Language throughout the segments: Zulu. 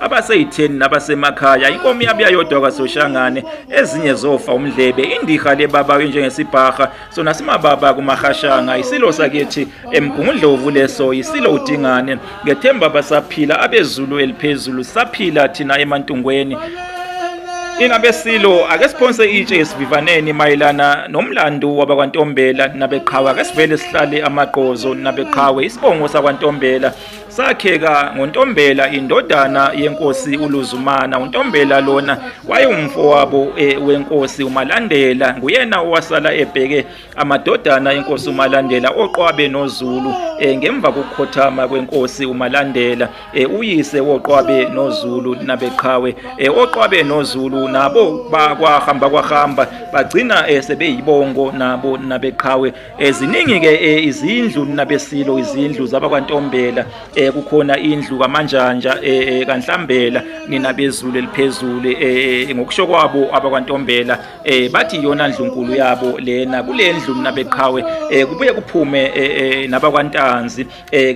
abaseyitheni nabasemakhaya inkomo yabuya yodwa kwasoshangane ezinye zofa umdlebe indiha lebaba injengesibhaha sona simababa kumahashanga isilo sakithi emgungundlovu leso isilo udingane ngethemba basaphila abezulu eliphezulu saphila thina emantungweni Ingabe silo ake siphonse itshe esivivaneni mayelana nomlando wabakwantombela nabeqhawe ake sivele sihlale amaqozo nabeqhawe isibongo sakwantombela Sakheka ngoNtombela indodana yenkosi uLuzumana uNtombela lona wayewumfowabo e, wenkosi uMalandela nguyena owasala ebheke amadodana enkosi uMalandela oqwabe noZulu e, ngemva kokukhothama kwenkosi uMalandela e, uyise woqwabe noZulu nabeqhawe oqwabe noZulu nabo bakwahamba kwahamba bagcina sebeyibongo nabo nabeqhawe Eh, ziningi-ke eh, izindlu nabesilo izindlu zabakwantombela eh, kukhona indlu kamanjanja kanhlambela ninabezulu eliphezulu ngokusho kwabo abakwantombela bathi iyona ndlunkulu yabo lena kule ndlu nabeqhawe kubuye kuphume nabakwantanzi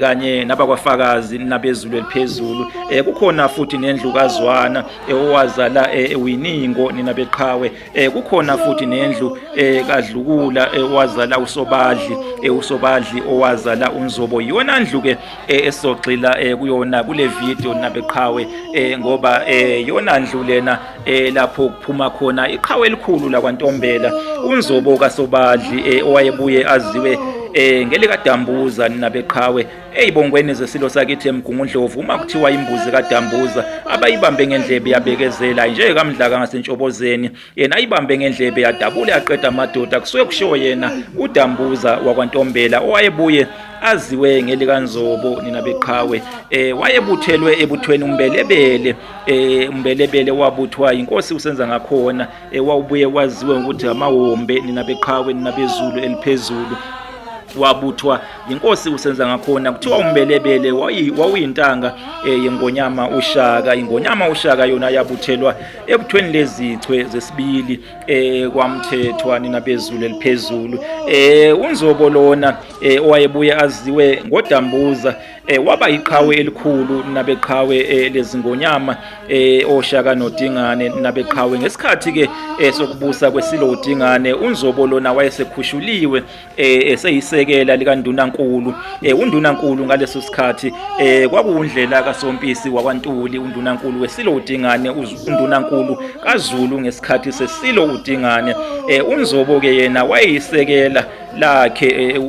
kanye nabakwafakazi nabezulu eliphezulu kukhona futhi nendlu kazwana owazala winingo ninabeqhawe eh kukhona futhi nendlu eh kadlukula eh, wazala usobadli eh, usobadli owazala unzobo yona ndlu ke eh, esogxila eh, kuyona kule video nabeqhawe eh, ngoba eh, yona ndlu lena eh, lapho kuphuma khona iqhawe elikhulu la kwantombela unzobo kasobadli eh, owayebuye aziwe eh, ngelika dambuza nabeqhawe Eyi bongweni zesilo sakithi emgungundlovu uma kuthiwa imbuzi kadambuza abayibambe ngendlebe yabekezela nje kamdlaka ngasentshobozeni yena ayibambe ngendlebe yadabule yaqeda amadoda kusuke kushiwo yena udambuza wakwantombela owayebuye aziwe ngelikanzobo nina beqhawe eh wayebuthelwe ebuthweni umbelebele eh umbelebele wabuthwa inkosi usenza ngakhona ewawubuye kwaziwe ngokuthi amawombe nina beqhawe nina bezulu eliphezulu wabuthwa yinkosi usenza ngakhona kuthiwa umbelebele wawuyintanga eh, yengonyama ushaka ingonyama ushaka yona yabuthelwa ebuthweni lezichwe zesibili eh, kwamthethwa nina bezulu eliphezulu eh, unzobo lona owayebuye aziwe ngodambuza eh waba iqhawe elikhulu nabeqhawe eh, lezingonyama eh oshaka nodingane nabeqhawe ngesikhathi ke eh, sokubusa kwesilo udingane unzobo lona wayesekhushuliwe eh, eseyisekela likandunankulu eh, undunankulu ngaleso sikhathi eh, kwakuwundlela kasompisi wakwantuli undunankulu wesilo udingane undunankulu kaZulu ngesikhathi sesilo udingane eh, unzobo ke yena wayeyisekela lakhe eh,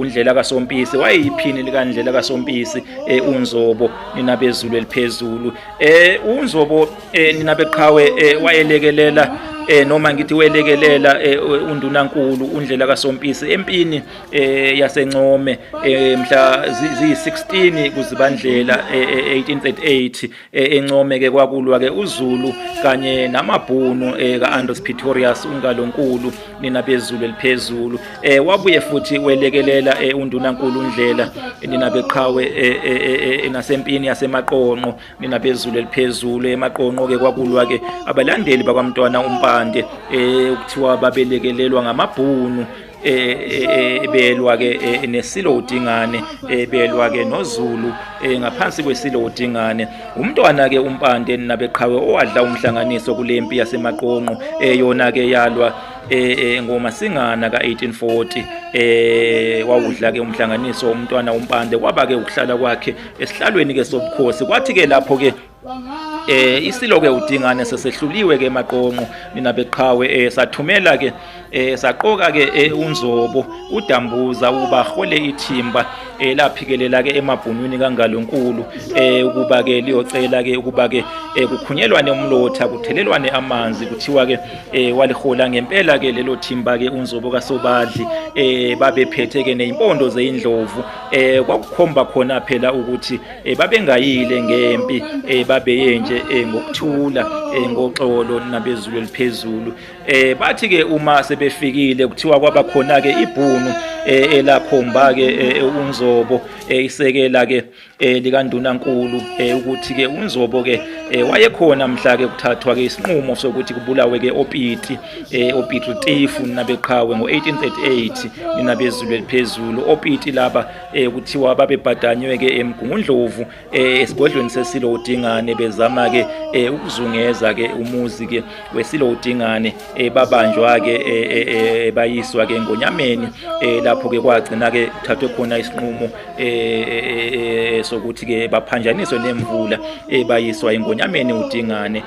undlela kasompisi wayeyiphini likandlela kasompisi eh, unzobo nina bezulu eliphezulu eh unzobo eh, nina beqhawe eh, wayelekelela eh noma ngithi welekelela eh, undunankulu undlela kasompisi empini eh yasencome eh, mhla ziyi16 kuzibandlela 1838 eh, E, encome ke kwakulwa ke uZulu kanye namabhunu e, ka-Andros Pretorius uNgalonkulu nina bezulu eliphezulu e, wabuye futhi welekelela uNdunankulu uNdlela nina beqhawe nasempini yasemaqonqo nina bezulu eliphezulu emaqonqo ke kwakulwa ke abalandeli bakwamntwana uMpande kuthiwa babelekelelwa ngamabhunu ebelwa ke e, nesilo udingane ebelwa ke nozulu e, ngaphansi kwesilo udingane umntwana ke umpande nabeqhawe owadla umhlanganiso kulempi yasemaqonqo eyona ke yalwa e, ngoma singana ka 1840 eh wawudla ke umhlanganiso umntwana umpande kwaba ke ukuhlala kwakhe esihlalweni ke sobukhosi kwathi ke lapho ke eh isilo ke udingane sesehluliwe ke maqomo mina beqhawe eh sathumela ke eh saqoka ke eh, unzobo udambuza ukuba hole ithimba eh laphikelela ke emabhunwini kangalonkulu eh ukuba ke liyocela ke ukuba ke eh, kukhunyelwane umlotha kuthelelwane amanzi kuthiwa ke eh walihola ngempela ke lelo thimba ke unzobo kasobadli eh babephethe ke nezimpondo zeindlovu eh kwakukhomba khona phela ukuthi um babengayile ngempi um babeye nje um ngokuthula um ngoxolo nabezulu eliphezulu um bathi-ke uma sebefikile kuthiwa kwaba khona-ke ibhunu um elakhomba-ke um unzobo um isekela-ke um likandunankulu um ukuthi-ke unzobo-ke um wayekhona mhla-ke kuthathwa-ke isinqumo sokuthi kubulawe-ke opiti um opiti tifu ninabeqhawe ngo-1838 ninabezulu eliphezulu opiti laba eh kuthiwa babebhadanywe ke eMgungundlovu eh, eh, esigodlweni sesilo uDingane bezama ke eh, ukuzungeza ke umuzi ke wesilo uDingane babanjwa ke bayiswa ke ngonyameni lapho ke kwagcina ke kuthathwe khona isinqumo sokuthi ke baphanjaniswe nemvula bayiswa ingonyameni uDingane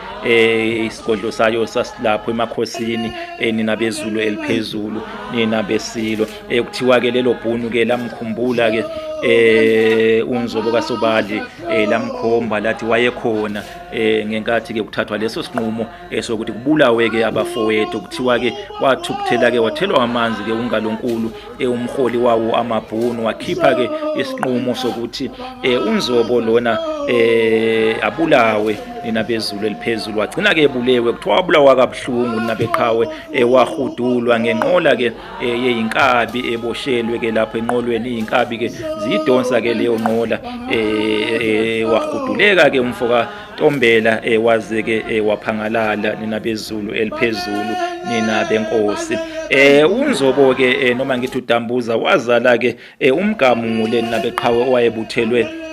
isigodlo sayo sasilapho emakhosini nina bezulu eliphezulu nina besilo eh kuthiwa ke lelo bhunu ke lamkhumbula ke eh unzobo kasobali eh lamkhomba lathi wayekhona eh ngenkathi ke kuthathwa leso sinqumo esokuthi eh, kubulawe ke abafowethu kuthiwa ke wathukuthela ke wathelwa amanzi ke ungalonkulu eh umholi wawo amabhunu wakhipha ke isinqumo sokuthi eh unzobo lona eh abulawe nina bezulu eliphezulu wagcina ke ebulewe kuthiwa wabulawa kabuhlungu nina beqhawe ewahudulwa eh, ngenqola ke eye eh, inkabi eboshelwe ke lapho enqolweni iyinkabi ke ziyidonsa ke leyo nqola eh, eh wahuduleka ke umfoka Ntombela eh, waze ke eh, waphangalala nina bezulu eliphezulu nina benkosi eh unzobo ke eh, noma ngithi udambuza wazala ke Eh umgamu nguleni nabeqhawe owayebuthelwe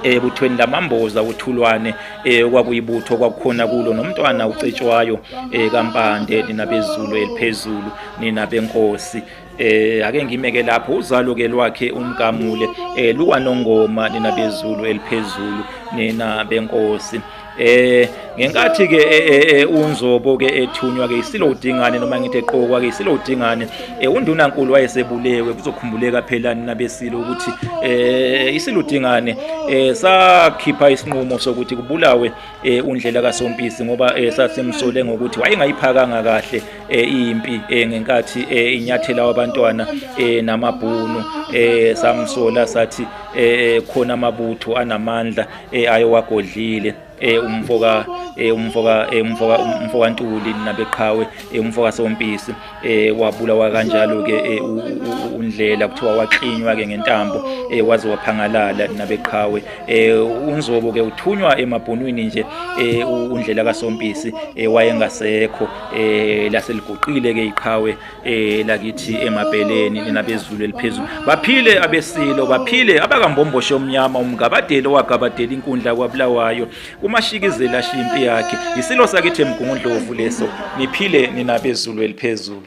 ebuthweni eh, lamamboza uthulwane eh, okwakuyibutho kwakukhona kulo nomntwana ucetshwayo eh, kampande nina bezulu eliphezulu nina benkosi eh ake ngimeke lapho uzalo ke lwakhe umgamule eh luwanongoma nina bezulu eliphezulu nina benkosi Eh ngenkathi ke eh, eh, eh, unzobo ke ethunywa ke isilo udingane noma ngithi eqokwa ke isilo udingane undunankulu wayesebulewe kuzokhumbuleka phela nina besilo ukuthi eh isilo udingane sakhipha isinqumo sokuthi kubulawe undlela kasompisi ngoba sasemsole ngokuthi wayengayiphakanga kahle impi ngenkathi inyathela wabantwana namabhunu samsola sathi khona amabutho anamandla eh ayowagodlile eh umfoka eh umfoka eh umfoka umfoka Ntuli nabeqhawe eh umfoka Sompisi eh wabulawa kanjalo ke eh undlela kuthiwa waqinywa ke ngentambo eh waze waphangalala nabeqhawe eh unzobo ke uthunywa emabhunwini nje eh undlela kaSompisi eh wayengasekho eh laseliguqile ke iqhawe elakithi eh, emabheleni nina bezulu eliphezulu baphile abesilo baphile abakambomboshe omnyama umgabadeli owagabadela inkundla kwabulawayo umashikizela ashiya impi yakhe yisilo sakithi emgungundlovu leso niphile nina bezulu eliphezulu